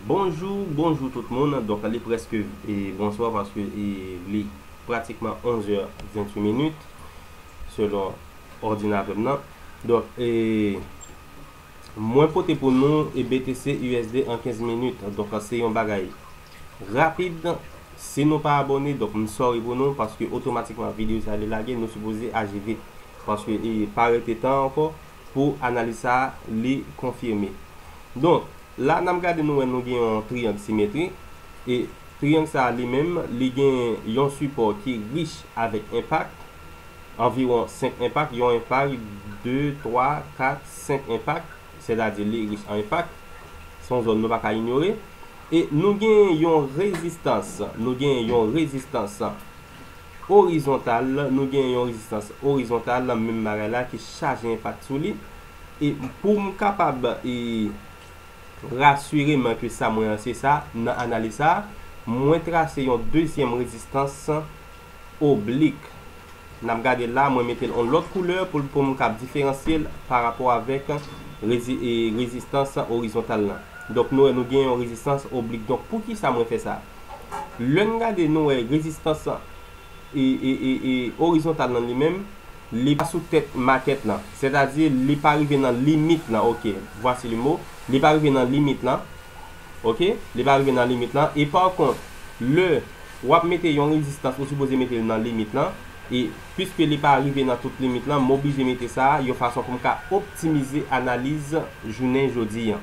Bonjou bonjou tout moun donk li prèske e bonswa paske e li pratikman 11 è 28 minit selon òdinatè m nan donk e mwen pote pou nou e BTC USD an 15 minit donk se yon bagay rapid si nou pa abòne donk m sòri pou nou paske otomatikman videyo sa li lage nou sipoze aji vit paske e pa rete tan ankò pou analiz sa a li konfime. Donk, la n ap gade nou wè nou gen yon triyang simetrik, e triyang sa a li menm li gen yon sipò ki rich avèk enpak, anviwon 5 enpak, yon enpak, 2, 3, 4, 5 enpak, sètadi li rich an enpak, se yon zòn nou pa ka inyore, e nou gen yon rezistans, nou gen yon rezistans Orizontal, nou gen yon rezistans orizontal, menm bagay la, ki chaje enpak sou li. E pou m kapab e rasire m ke sa mwen an se sa, nan analiz sa a, mwen trase yon dezyèm rezistans oblik. N ap gade l la, mwen mete l yon lòt koulè pou m kab diferansye l pa rapò avèk e rezistans orizontal lan. Donk, nou wè nou gen yon rezistans oblik. Donk, poukisa mwen fè sa? Lè n gade nou wè rezistans lan e orizontal nan li menm, li pa sou tèt makèt lan. Sètadi li pa rive nan limit lan ok, vwasi le mo, li pa rive nan limit lan ok, li pa rive nan limit lan e pa kont lè w ap mete yon rezistans ou sipoze mete l nan limit lan e piske li pa rive nan tout limit lan m oblije mete sa yon fason pou m ka optimize analiz jounen jodi an.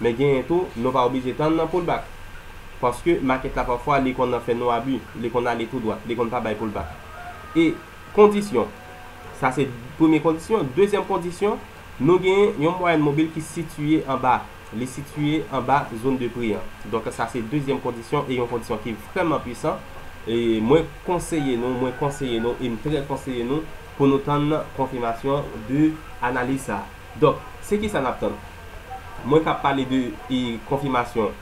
Men genyen tou nou pa oblije tann nan pull back paske market la pafwa li konn fè nou abi li konn ale tou dwat li konn pa bay pull back e kondisyon sa se premye kondisyon dezyèm kondisyon nou genyen yon mwayèn mobil ki sitiye anba li sitiye anba zone de pri an donk sa se dezyèm kondisyon e yon kondisyon ki vrèman pwisan e mwen konseye nou mwen konseye nou e m trè konseye nou pou nou tann konfimasyon de analiz sa donk se kisa nap tann. Mwen ka pale de konfimasyon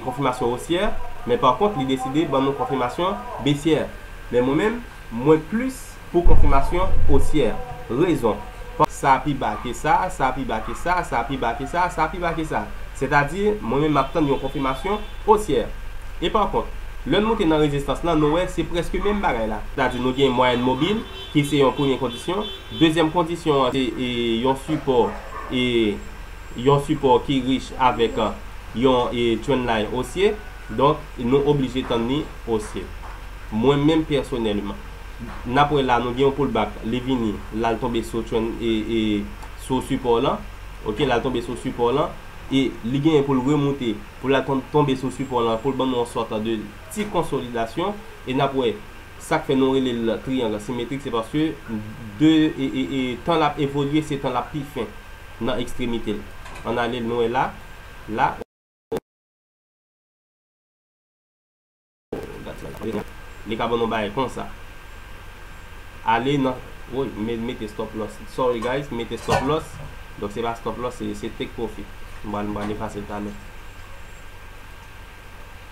konfimasyon osyè, men pa kont li deside ban nou konfimasyon besyè. Men mwen menm, mwen plis pou konfimasyon osyè. Rezon, paske sa pi ba ke sa, sa pi ba ke sa, sa pi ba ke sa, sa pi ba ke sa. Sètadi, mwen menm m ap tann yon konfimasyon osyè. E pa kont, lè n moute nan rezistans lan, nou wè se prèske menm bagay la. Sètadi nou gen mwayèn mobil. Ki se yon premye kondisyon. Dezyèm kondisyon an se yon sipò e yon sipò ki rich avèk yon trendline osye. Donk, nou oblije tann li osye. Mwen menm pèsonèlman, n ap wè la nou gen yon pullback, li vini, l al tonbe sou trend e sou sipò lan, ok, l al tonbe sou sipò lan e li genyen pou l remoute, pou l al tonbe sou sipò lan pou l ban nou yon sòt de ti konsolidasyon e n ap wè. Sak fè nou rele l triyang asimetrik se paske de tan l ap evolye se tan l ap pi fen nan ekstremite l. Ann ale nou wè la, la. Li ka ban nou bagay konsa. Ale nan, woy m mete stop loss, sorry guys, m mete stop loss, donk se pa stop loss se take profit. M pral efase l talè.